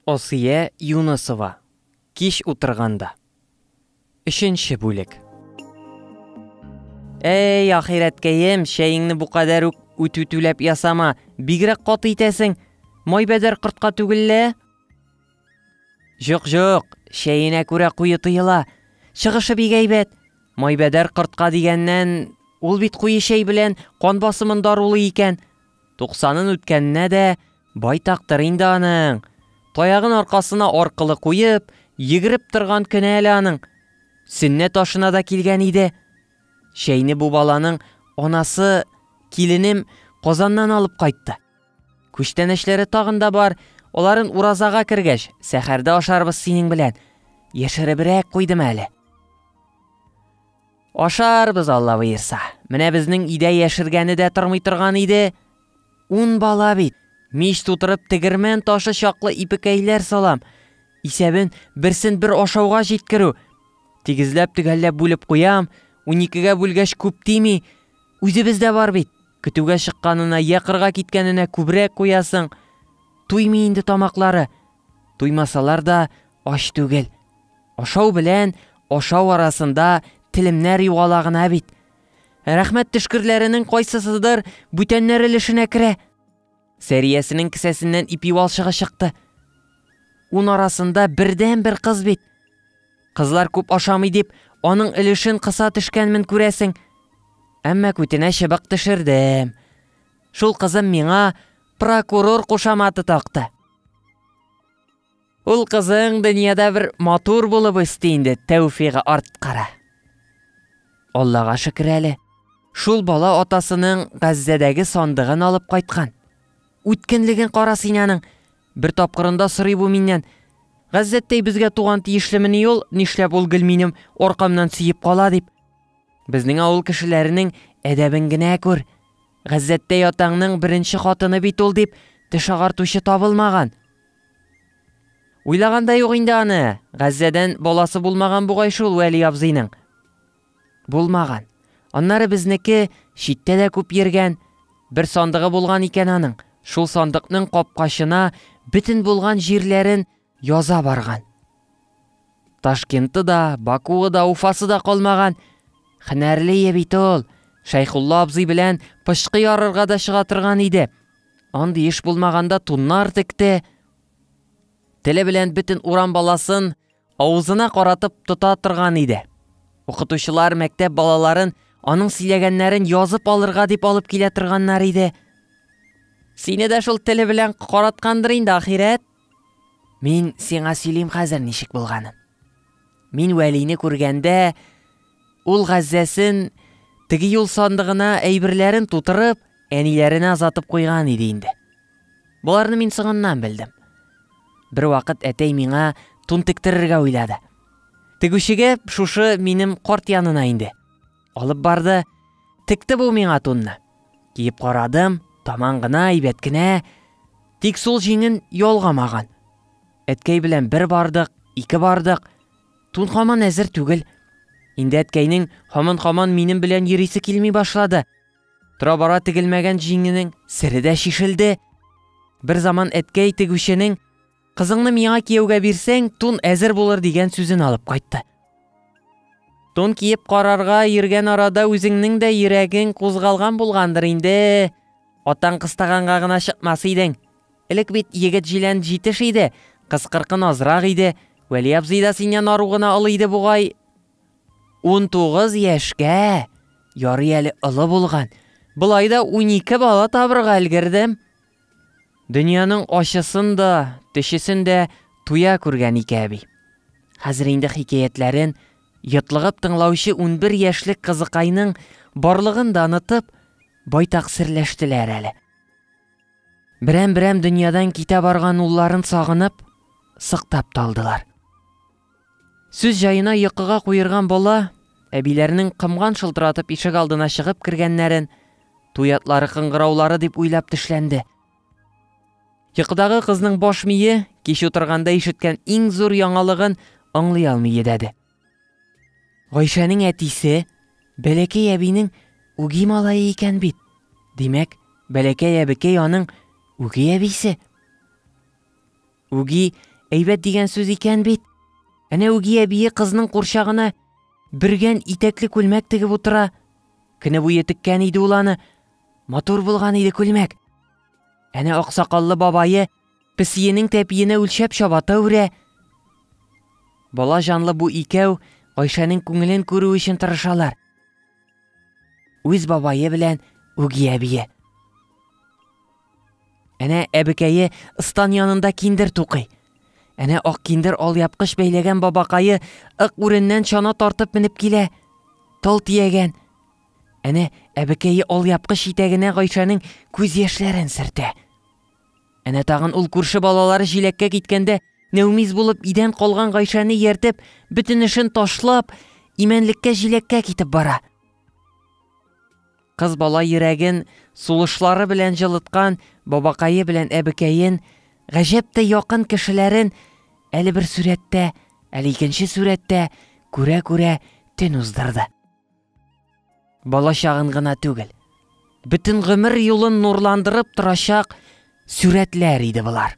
Асия Юнысова, Кич утырганда. Өченче бүлек. Әй, ахирәткәем, чәеңне бу кадәр үк үтүтүләп ясама, бигрәк каты итәсең. Майбәдәр кортка түгел лә? Җок-җок, чәенә күрә куе тыела. Чыгышы бик әйбәт. Майбәдәр кортка дигәннән, ул бит куе чәй белән кан басымын дарулый икән. Туксанын үткәненә дә байтактыр инде аның. Таягын аркасына аркылы куеп, йөгереп торган көне әле аның. Сөннәт ашына да килгән иде. Чәйне бу баланың анасы, киленем, Казаннан алып кайтты. Күчтәнәчләре тагын да бар, аларын уразага кергәч, сәхәрдә ашарбыз синең белән. Яшеребрәк куйдым әле. Ашарбыз, Алла боерса. Менә безнең өйдә яшергәне дә тормый торган иде. Ун бала бит. Мич тутырып тегермән ташы чаклы ипекәйләр салам. Исәбен берсен бер ашауга җиткерү. Тигезләп төгәлләп бүлеп куям, уникегә бүлгәч күп тими. Үзебез дә бар бит. Көтүгә чыкканына йә кырга киткәненә күбрәк куясың. Туймый инде тамаклары. Туймасалар да ач түгел. Ашау белән ашау арасында телемнәр югала гына бит. Рәхмәт төшкерләренең кайсысыдыр бүтәннәр өлешенә керә. Сәриясенең кесәсеннән ипи валчыгы чыкты. Ун арасында бердән бер кыз бит. Кызлар күп ашамый дип, аның өлешен кыса төшкәнмен күрәсең. Әмма күтенә чыбык төшердем. Шул кызым миңа прокурор кушаматы такты. Ул кызың дөньяда бер матур булып өсте инде, тәүфигы арткара. Аллага шөкер әле, шул бала атасының Газзәдәге сандыгын алып кайткан. Үткенлеген кара син аның. Бер тапкырында сорый бу миннән. Газзәттәй безгә туган тиешлемени ул, нишләп ул гел минем аркамнан сөеп кала дип. Безнең авыл кешеләренең әдәбен генә күр. Газзәттәй атаңның беренче хатыны бит ул дип, теш агартучы табылмаган. Уйлаган да юк инде аны. Газзәдән баласы булмаган бугай шул Вәли абзыйның. Булмаган. Аннары безнеке читтә дә күп йөргән. Бер сандыгы булган икән аның. Шул сандыкның капкачына бөтен булган җирләрен яза барган. Ташкенты да, Бакуы да, Уфасы да калмаган. Хенәрле ие бит ул. Шәйхулла абзый белән пычкы ярырга да чыга торган иде. Андый эш булмаганда туннар текте. Теле белән бөтен урам баласын авызына каратып тота торган иде. Укытучылар мәктәп балаларын аның сөйләгәннәрен язып алырга дип алып килә торганнар иде. Сине дә шул теле белән караткандыр инде ахирәт, Мин сиңа сөйлим хәзер ничек булганын. Мин Вәлине күргәндә, ул газзәсен теге юл сандыгына әйберләрен тутырып, әниләренә озатып куйган иде инде. Боларны мин соңыннан белдем. Бер вакыт әтәй миңа тун тектерергә уйлады. Тегүчегә шушы минем корт янына инде. Алып барды, текте бу миңа тунны. Киеп карадым, таман гына, әйбәт кенә, тик сул җиңен ялгамаган. Әткәй белән бер бардык, ике бардык, тун хаман әзер түгел. Инде әткәйнең хаман-хаман минем белән йөрисе килми башлады. Тора-бара тегелмәгән җиңенең сере дә шишелде. Бер заман әткәй тегүченең Кызыңны миңа кияүгә бирсәң, тун әзер булыр дигән сүзен алып кайтты. Тун киеп карарга йөргән арада үзеңнең дә йөрәгең кузгалган булгандыр инде. Атаң кыстаганга гына чыкмас идең. Элек бит егет җилән җитеш иде, кыз кыркын азрак иде. Вәли абзый да синнән ару гына олы иде бугай. Унтугыз яшькә ярый әле олы булган. Болай да унике бала табырга өлгердем. Дөньяның ачысын да, төчесен дә туя күргән ике әби. Хәзер инде хикәятләрен йотлыгып тыңлаучы унбер яшьлек кызыкайның барлыгын да онытып, байтак серләштеләр әле. Берәм-берәм дөньядан китә барган улларын сагынып, сыктап та алдылар. Сүз җаена йокыга куерган бала, әбиләренең кымган шылтыратып ишек алдына чыгып кергәннәрен, туй атлары кыңгыраулары дип уйлап тешләнде. Йокыдагы кызның баш мие кич утырганда ишеткән иң зур яңалыгын аңлый алмый йөдәде. Гайшәнең әтисе Бәләкәй әбинең үги малае икән бит. Димәк, Бәләкәй әбекәй аның үги әбисе. Үги әйбәт дигән сүз икән бит. Әнә Үги әбие кызның курчагына бөргән итәкле күлмәк тегеп утыра. Көне буе теккән иде ул аны. Матур булган иде күлмәк. Әнә аксакаллы бабае песиенең тәпиенә үлчәп чабата үрә. Бала җанлы бу икәү Гайшәнең күңелен күрү өчен тырышалар. Үз бабае белән Үги әбие. Әнә әбекәе ыстан янында киндер тукый. Әнә ак киндер алъяпкыч бәйләгән бабакае ык үреннән чана тартып менеп килә. Тол тиягән. Әнә әбекәе алъяпкыч итәгенә Гайшәнең күз яшьләрен сертә. Әнә тагын ул күрше балалары җиләккә киткәндә нәүмиз булып идән калган Гайшәне ияртеп, бөтен эшен ташлап, имәнлеккә җиләккә китеп бара. Кыз бала йөрәген сулышлары белән җылыткан бабакае белән әбекәен, гаҗәптәй якын кешеләрен әле бер сурәттә, әле икенче сурәттә күрә-күрә төн уздырды. Бала чагын гына түгел, бөтен гомер юлын нурландырып торачак сурәтләр иде болар.